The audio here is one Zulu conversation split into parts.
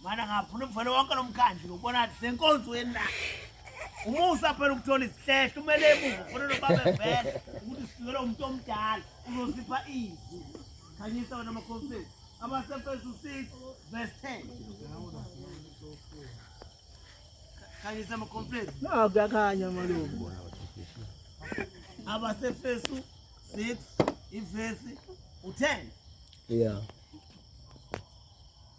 Mana ngafuna umfana wonke lomkhandlu ngokubona ukuthi senkonzweni la. Umusa phela ukuthola isihlehlo umele emuva khona lobaba vele ukuthi sifikele umuntu omdala uzosipha izwi. Khanyisa wena makhosini. Abasefesu 6 verse 10. Khanyisa makhosini. No, kuyakhanya malume. Abasefesu 6 ivesi u10. Yeah.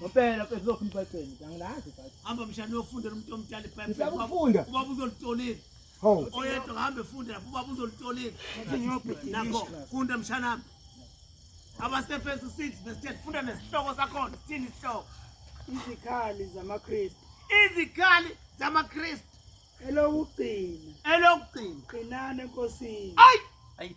Ngempela mfethu lokhu ngibhayibheli ngiyazi ibhayibheli. Hamba mshana uyofundela umuntu omdala ibhayibheli. Ngiyakufunda. Uba uzolitolini. Ho. Oyedwa ngihamba efunde lapho uba uzolitolini. Nakho funda mshana wami. Abasefesu 6 verse 10 funda nesihloko sakhona sithini isihloko? Izikhali zamaKristu. Izikhali zamaKristu. Elokugcina. Elokugcina. Qinani enkosini. Ayi. Ayi.